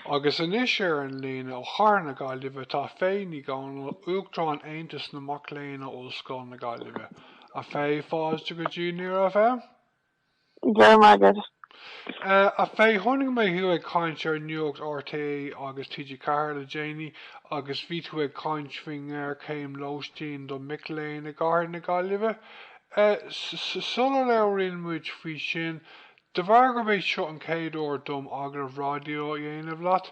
Agus anois ar an líne ó chathair na Gaillimhe tá Faye Ní Dhomhnaill, Uachtarán Aontas na Mac Léinn in Ollscoil na Gaillimhe. A Faye, fáilte go dtí Near FM. Go raibh maith agat. A Faye, chonaic mé thú ag caint ar Nuacht RTÉ agus TG4 le déanaí agus bhí tú ag caint faoin ngéarchéim lóistín do mhic léinn i gcathair na Gaillimhe. Sular labhraíonn muid faoi sin, De bharr gurb é seo an chéad uair dom agallamh raidió a dhéanamh leat,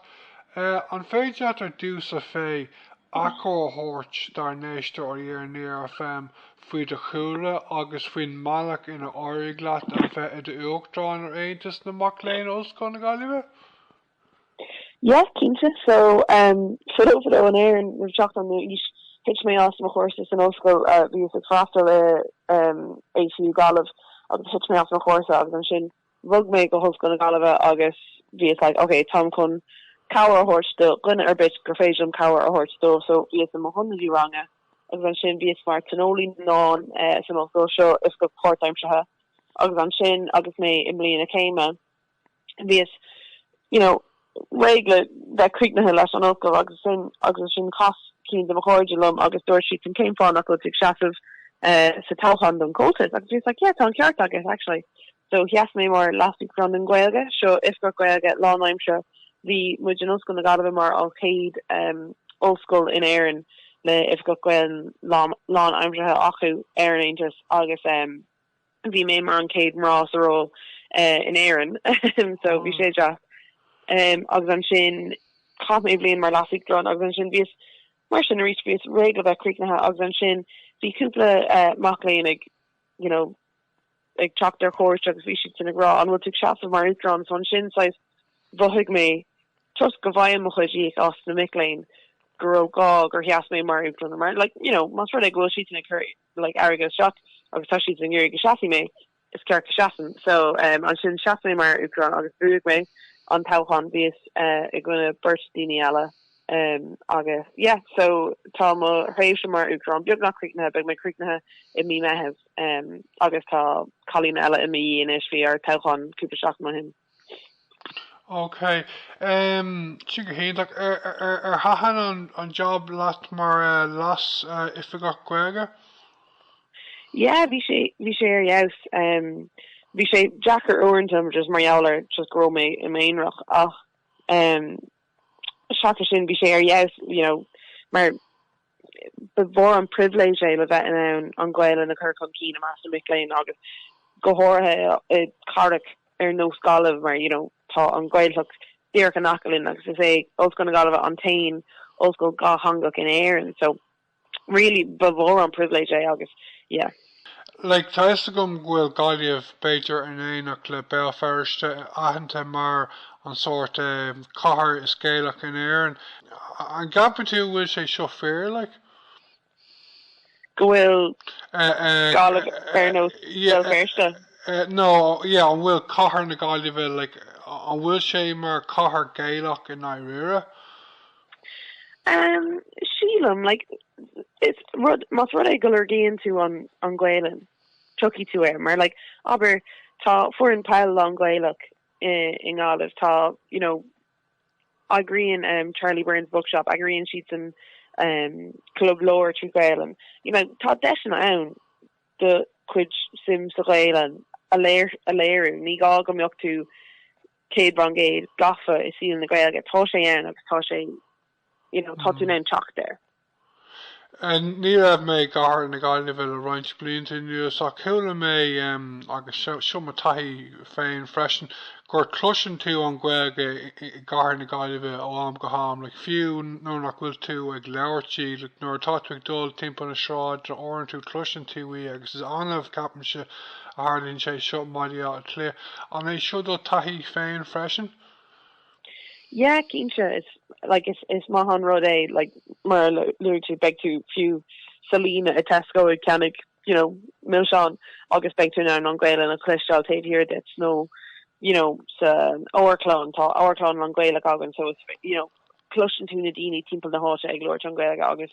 an féidir leat ar dtús, a Faye, achoimre a thabhairt dár n-éisteoirí ar Near FM faoi do chúlra agus faoin mbealach inar éirigh leat a bheith i d'Uachtarán ar Aontas na Mac Léinn Ollscoile na Gaillimhe? Yeah cinnte so erm fadó fadó in Éirinn roimh teacht an aoil thit mé as mo chúrsa san ollscoil bhíos ag freastal ar erm ATU Gaillimh agus thit mé as mo chúrsa agus ansin bhog mé go hOllscoil na Gaillimhe agus bhíos like ok táim chun cabhair a thabhairt do dhuine ar bith gur féidir liom cabhair a thabhairt dóibh so bhíos i m'ionadaí ranga agus ansin bhíos mar thionólaí na ndán san ollscoil seo oifigeach páirtaimseartha agus ansin agus mé i mbliain a céime bhíos, you know, réidh le bheith críochnaithe leis an ollscoil agus sin agus ansin chas ceann de mo chairde liom agus dúirt siadsan cén fáth nach bhfuil tú ag seasamh sa toghchán don chomhaltas agus bhíos like, yeah, tá an ceart agat, actually. So sheas mé mar Leas-Uachtarán don Ghaeilge, seo Oifigeach Gaeilge lánaimseartha, bhí muid in Ollscoil na Gaillimhe mar an chéad ollscoil in Éirinn le hOifigeach Gaeilge lánaimseartha acu ar an Aontas agus, Bhí mé mar an chéad mná sa ról in Éirinn so bhí sé deas agus ansin chaith mé bliain mar leasuachtarán agus ansin bhíos mar sin arís bhíos réidh le bheith críochnaithe agus ansin bhí cúpla mac léinn ag you know ag teacht ar chuairt agus bhí siadsan ag rá an bhfuil tú ag seasamh mar uachtarán so ansin saghas mhothaigh mé toisc go bhfaighim mo chuid íoc as na mic léinn go raibh gá gur sheas mé mar uachtarán mar like you know más rud é go bhfuil siadsan ag cur like, airgead isteach agus tá siad ag iarraidh go seasfaidh mé, is ceart go seasaim. So um ansin sheas mé mar Uachtarán agus bhuaigh mé an toghchán, bhíos eh i gcoinne beirt daoine eile um agus yeah, so tá mo thréimhse mar Uachtarán beagnach críochnaithe, beidh mé críochnaithe i mí Meitheamh um agus tá cailín eile i mo dhiaidh anois, bhí ár dtoghchán cúpla seachtain ó shin. OK, sin go hiontach. Ar thaitin an jab leat mar Leas-Oifigeach Gaeilge? Yeah, bhí sé bhí sé ar fheabhas. Bhí sé deacair uaireanta just mar gheall ar just go raibh mé i m'aonarach ach seachas sin bhí sé ar fheabhas, you know, mar, ba mhór an pribhléid é le bheith in ann an Ghaelainn a chur chun cinn i measc na mic léinn agus go háirithe i gcathracha ar nós Gaillimh mar you know tá an Ghaeltacht díreach in aice linn agus is é Ollscoil na Gaillimhe an t-aon ollscoil dhátheangach in Éirinn so really ba mhór an pribhléid é agus yeah. Like, tá 'fhios agam go bhfuil Gaillimh, b'fhéidir in éineacht le Béal Feirste, aitheanta mar an sórt, em, cathair is Gaelach in Éirinn. An gceapann tú go bhfuil sé seo fíor, like? Go bhfuil Eh, eh, Gaillimh eh, no, yeah, an bhfuil cathair na Gaillimhe, like, an bhfuil sé mar chathair Gaelach i ndáiríre? Umm, sílim, like, is rud, más rud é go lorgaíonn tú an, an Gaolainn, tiocfaidh tú air, mar, like, abair, tá foireann peil lán-Ghaelach i, i nGaillimh, tá, you know, eagraíonn, umm, Charlie Byrne's Bookshop, eagraíonn siadsan, umm, club leabhar trí Ghaolainn, you know, tá deiseanna ann do chuid suim sa Ghaolainn a léir, a léiriú, ní gá go mbeadh tú, céad faoin gcéad gafa i saol na Gaeilge. Tá sé ann agus tá sé you know, tá tú in ann teacht air. Ní raibh mé i gcathair na Gaillimhe le roinnt blianta anuas ach chuala mé, agus seo mo taithí féin freisin, gur chloiseann tú an Ghaeilge i gcathair na Gaillimhe ó am go ham, like fiú nuair nach bhfuil tú ag labhairt í, like nuair atá tú ag dul timpeall na sráide uaireanta cloiseann tú í agus is annamh, ceapaimse, a tharlaíonn sé seo i mBaile Átha Cliath. An é sin do thaithí féin freisin? Yeah cinnte is like is is maith an rud é like mar a luaigh tú beidh tú fiú sa líne i Tesco ag ceannach you know milseáin agus beidh tú in ann an Gaolainn a chloisteáil taobh thiar duit nó you know sa amharclann tá amharclann lán Gaelach againn so it's you know cloiseann tú na daoine timpeall na háite ag labhairt na Gaeilge agus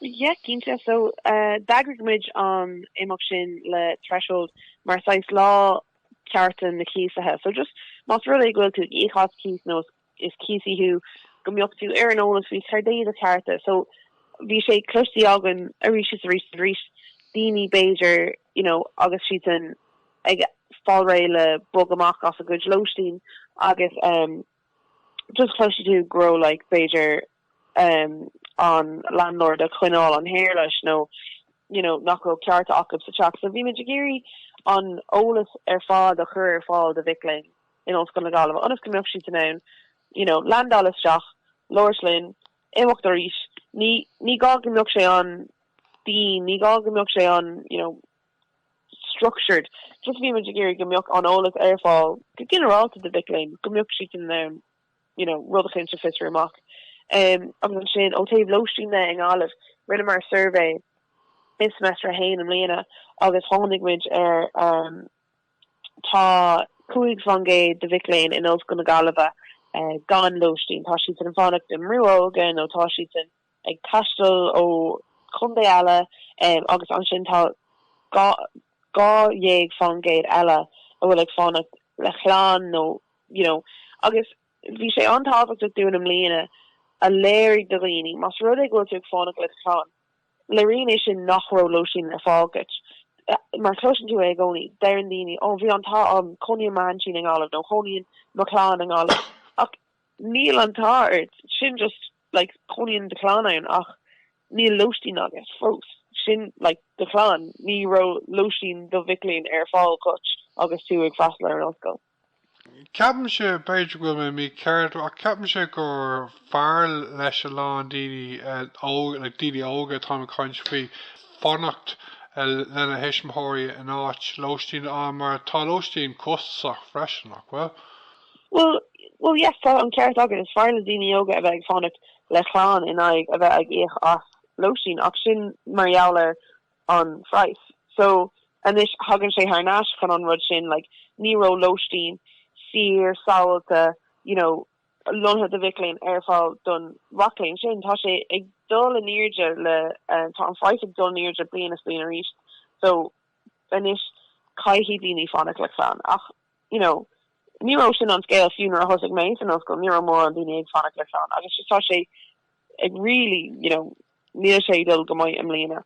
Yeah, cinnte. So, d'eagraigh muid an imeacht sin le Threshold mar saghas Lá Cearta na Cíosaithe. So just más rud é go bhfuil tú ag íoc cíos nó is cíosaí thú, go mbeadh tú ar an eolas faoi céard é do chearta. So bhí sé cloistí againn arís is arís is arís daoine b'fhéidir you know agus siad ag fáil réidh le bogadh amach as a gcuid lóistín agus um Just chloisfidh tú go raibh like b'fhéidir um an landlord ag coinneáil an hair leis nó you know nach raibh cearta acu sa teach. So bhí muid ag iarraidh an eolas ar fad a chur ar fáil do mhic léinn in Ollscoil na Gaillimhe ionas go mbeadh siad in ann you know landáil isteach, labhairt linn, imeacht arís. Ní ní gá go mbeadh sé an-dian, ní gá go mbeadh sé an you know. structured. Just bhí muid ag iarraidh go mbeadh an eolas ar fáil go ginearálta do mhic léinn, go mbeadh siad in ann you know rud eicínt a fhiosrú amach. Agus ansin ó taobh lóistín de i nGaillimh rinneamar suirbhé i seimeastar a haon i mbliana agus tháinig muid ar um tá 5% de mhic léinn in Ollscoil na Gaillimhe gan lóistín, tá siadsan ag fanacht i mbrúnna óige nó tá siadsan ag taisteal ó chontae eile agus ansin tá dhá dhá dhéag faoin gcéad eile a bhfuil ag fanacht le clann nó you know agus bhí sé an-tábhachtach dúinn i mbliana a léiriú do dhaoine más rud é go bhfuil tú ag fanacht le do chlann léiríonn é sin nach raibh lóistín ar fáil agat mar chloiseann tú é i gcónaí deireann daoine ó bhí an t-ádh cónaíonn m'aintín i nGaillimh nó cónaíonn mo chlann i nGaillimh ach níl an t-ádh ort sin just like, cónaíonn do chlann ann ach níl lóistín agat fós, sin, like, do chlann, ní raibh lóistín do mhic léinn ar fáil agat agus tú ag freastal ar an ollscoil. Ceapaimse, b'fhéidir go bhfuil mé mícheart, ach ceapaimse gur fearr leis a lán daoine óga, like, daoine óga atá mé ag caint faoi, fanacht lena thuismitheoirí in áit lóistín a fháil mar tá lóistín costasach freisin, nach bhfuil? Bhuel, bhuel yes tá an ceart agat, is fearr le daoine óga a bheith ag fanacht le clann in aghaidh a bheith ag íoc as lóistín ach sin mar gheall ar an phraghas so anois thagann sé thar n-ais chun an rud sin like ní raibh lóistín saor sábháilte you know lonnaithe do mhic léinn ar fáil don mhac léinn sin tá sé ag dul in airde le uh, tá an phraghas ag dul in airde bliain i ndiaidh bliana arís so anois caithfidh daoine fanacht le clann ach you know, ní raibh sin an scéal fiú nuair a thosaigh mé san ollscoil, ní raibh mórán daoine ag fanacht le clann agus just tá sé ag really, you know, níl sé ag dul go maith i mbliana.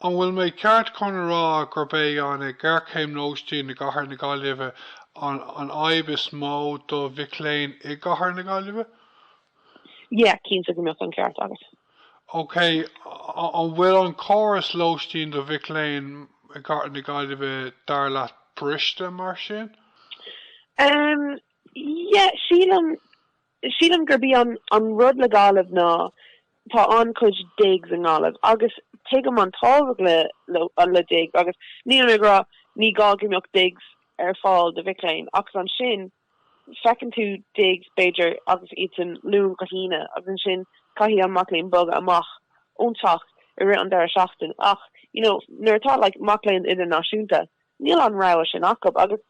An bhfuil mé ceart chun a rá gurb é an ghéarchéim lóistín i gcathair na Gaillimhe an fhadhb is mó do mhic léinn i gcathair na Gaillimhe? Yeah, cinnte go mbeadh an ceart agat. OK, an bhfuil an córas lóistín do mhic léinn i gcathair na Gaillimhe dar leat briste mar sin? Umm, yeah, sílim, sílim gurb í an, an rud le Gaillimh ná tá an-chuid digs i nGaillimh agus tuigim an tábhacht le, le, le digs agus nílim ag rá ní gá go mbeadh digs ar fáil do mhic léinn ach is ansin Feiceann tú digs, b'fhéidir, agus iadsan Luan go hAoine, agus ansin caithfidh an mac léinn bogadh amach ón teach i rith an deireadh seachtaine. Ach, you know, nuair atá like mac léinn idirnáisiúnta, níl an rogha sin acu. Agus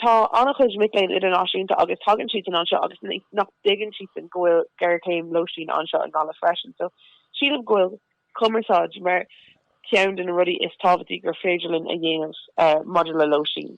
tá an-chuid mic léinn idirnáisiúnta agus tagann siadsan anseo agus nach dtuigeann siadsan go bhfuil géarchéim lóistín anseo i nGaillimh freisin. So sílim go bhfuil cumarsáid mar ceann de na rudaí is tábhachtaí gur féidir linn a dhéanamh maidir le lóistín.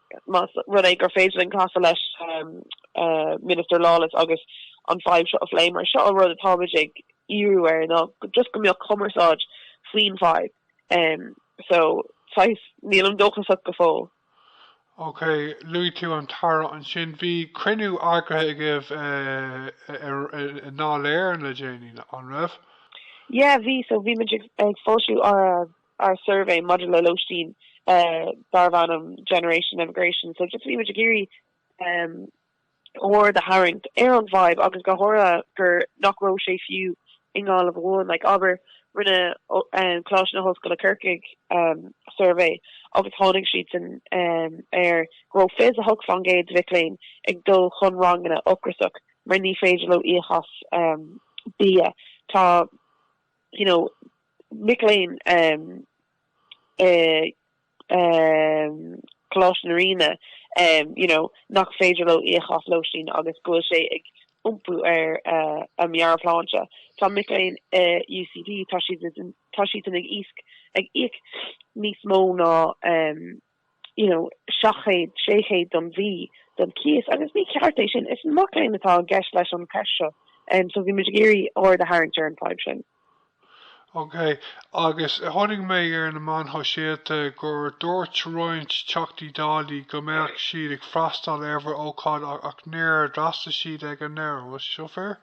más rud é gur féidir linn casadh leis Minister Lawless agus an fadhb seo a phlé, mar seo an rud atáimid ag iarraidh air ná just go mbeadh cumarsáid faoin bhfadhb. So, saghas, nílim dóchasach go fóill. Ok, luaigh tú an tAire ansin. Bhí cruinniú eagraithe agaibh i nDáil Éireann le déanaí, an raibh? Yeah, bhí. So, bhí muid ag foilsiú ár ár suirbhé maidir le lóistín darbh ainm Generation Emigration. So just bhí muid ag iarraidh aird a tharraingt ar an bhfadhb agus go háirithe gur nach raibh sé fiú i nGaillimh amháin. Like abair rinne Coláiste na hOllscoile Corcaigh suirbhé agus tháinig siadsan ar go raibh 28% de mhic léinn ag dul chun ranganna ocrasach mar ní féidir leo íoc as bia. Tá. you know, mic léinn i gColáiste na Ríona, you know, nach féidir leo íoc as lóistín agus go bhfuil sé ag iompú ar a meabhairshláinte. Tá mic léinn i UCD, tá siadsan ag íoc níos mó ná you know, seacht gcéad, sé chéad don mhí don chíos agus ní ceart é sin. Is mac léinn atá i gceist leis an cheist seo em so bhí muid ag iarraidh aird a tharraingt ar an fadhb sin. OK, agus chonaic mé ar na meáin shóisialta gur dúirt roinnt Teachtaí Dála go mbeadh siad ag freastal ar bhur ócáid ach níor d'fhreastail siad ag an deireadh, an bhfuil seo fíor?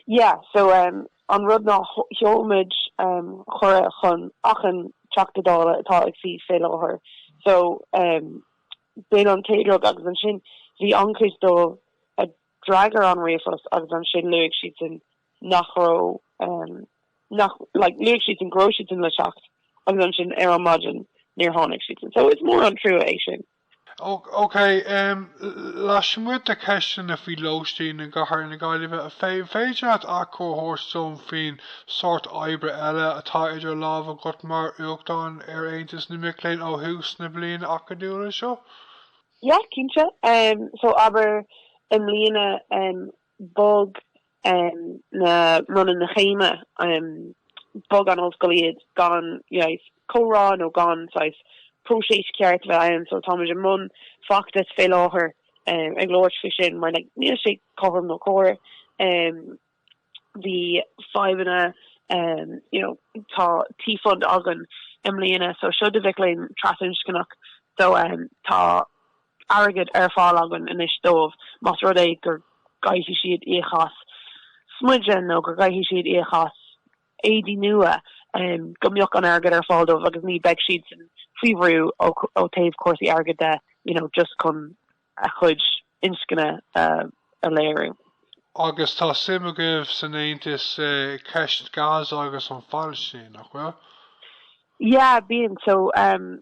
Yeah, so em. An rud ná sheol muid cuireadh chun achan Teachta Dála atá ag suí faoi láthair so b'in an chéad rud agus ansin bhí an-chuid dóibh a d'fhreagair an ríomhphost agus ansin luaigh siadsan nach raibh nach like luaigh siadsan go raibh siadsan le teacht agus ansin ar an maidin níor tháinig siadsan so is mór an trua é sin. OK, lasmuigh de cheisteanna faoi lóistín i gCathair na Gaillimhe, an féidir leat achoimre a thabhairt dom faoin sórt oibre eile atá idir lámha agat mar Uachtarán ar Aontas na Mac Léinn ó thús na bliana acadúla seo? Yeah, cinnte. So, abair, i mbliana, Bhog na bronnta na chéime, bhog an ollscoil iad gan comhrá nó gan saghas próiseas ceart a bheith ann, so táimid i mbun feachtais fé láthair ag labhairt faoi sin mar níl sé cothrom nó cóir. Bhí fadhbanna, you know, tá T-Fund againn i mbliana so seo do mhic léinn trasinscneach so tá, airgead ar fáil againn anois dóibh más rud é go gcaithfidh siad íoc as smideadh nó go gcaithfidh siad íoc as éadaí nua, go mbeadh an airgead ar fáil dóibh agus ní bheadh siadsan faoi bhrú ó taobh cúrsaí airgid de you know just chun a chuid inscne a léiriú. Agus tá suim agaibh san Aontas i gceist Gaza agus an Phailistín, nach bhfuil? Yeah, bíonn. So, um.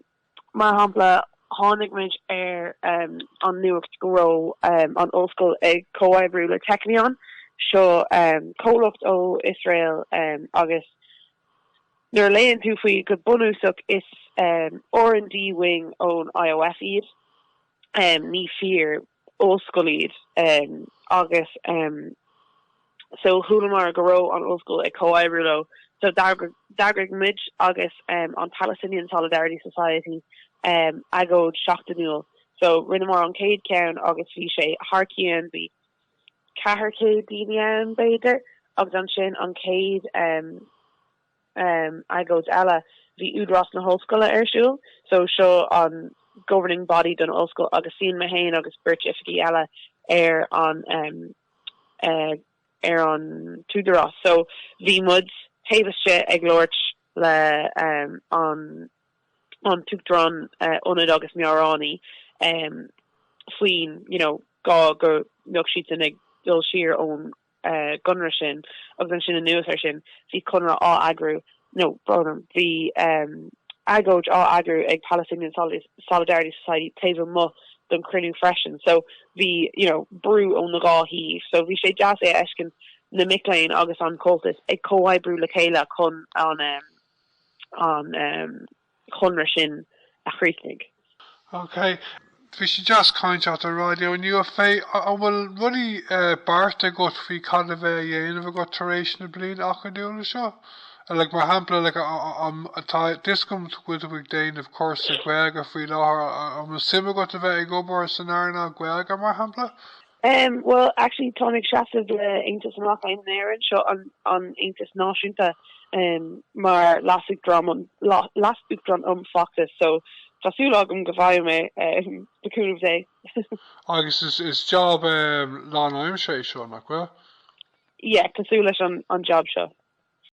Mar shampla, tháinig muid ar an nuacht go raibh an Ollscoil ag comhoibriú le Technion, seo comhlacht ó Iosrael agus nuair a léann tú faoi go bunúsach is R and D wing ón IOF iad, ní fíor. ollscoil iad agus so chualamar go raibh an ollscoil ag comhoibriú leo so d'eagraigh muid agus an Palestinian Solidarity Society agóid seachtainiúil so rinneamar an chéad ceann agus bhí sé thar cionn bhí 400 daoine ann b'fhéidir agus ansin an chéad um agóid eile, bhí Údarás na hOllscoile ar siúl, so seo an governing body don ollscoil agus suíonn mé féin agus beirt oifigí eile ar an um ar an tÚdarás so bhí muid taobh istigh ag labhairt le um an an tUachtarán Ionaid agus Meabhránaí um faoin you know gá go mbeadh siadsan ag dul siar ón gConradh sin agus ansin anuas air sin bhí conradh á eagrú nó brón orm bhí agóid á eagrú ag Palestinian Solidarity Society taobh amuigh don chruinniú freisin so bhí you know brú ón na dhá thaobh so bhí sé deas é a fheiscint na mic léinn agus an Comhaltas ag comhoibriú le chéile chun an um, an um, chonradh sin a chríochnaigh. Ok. Bhí sé just ag caint leat ar Raidió inniu, a Faye. An bhfuil rudaí beartaithe agat faoi cad a bheidh a dhéanamh agat tar éis na bliana acadúla seo? Like, mar shampla, like, an, tá a fhios agam go bhfuil tú ag déanamh cúrsa Gaeilge faoi láthair, an bhfuil suim agat a bheith ag obair san earnáil Gaeilge, mar shampla? Em well actually tá mé ag seasamh le Aontas na Mac Léinn in Éirinn, seo an an aontas náisiúnta, em mar leasuachtarán um leasuachtarán um fheachtais so tá súil agam go bhfaighidh mé em the coup of the day. Agus is is job em lánaimseartha é seo, nach bhfuil? Yeah cosúil leis an an job seo.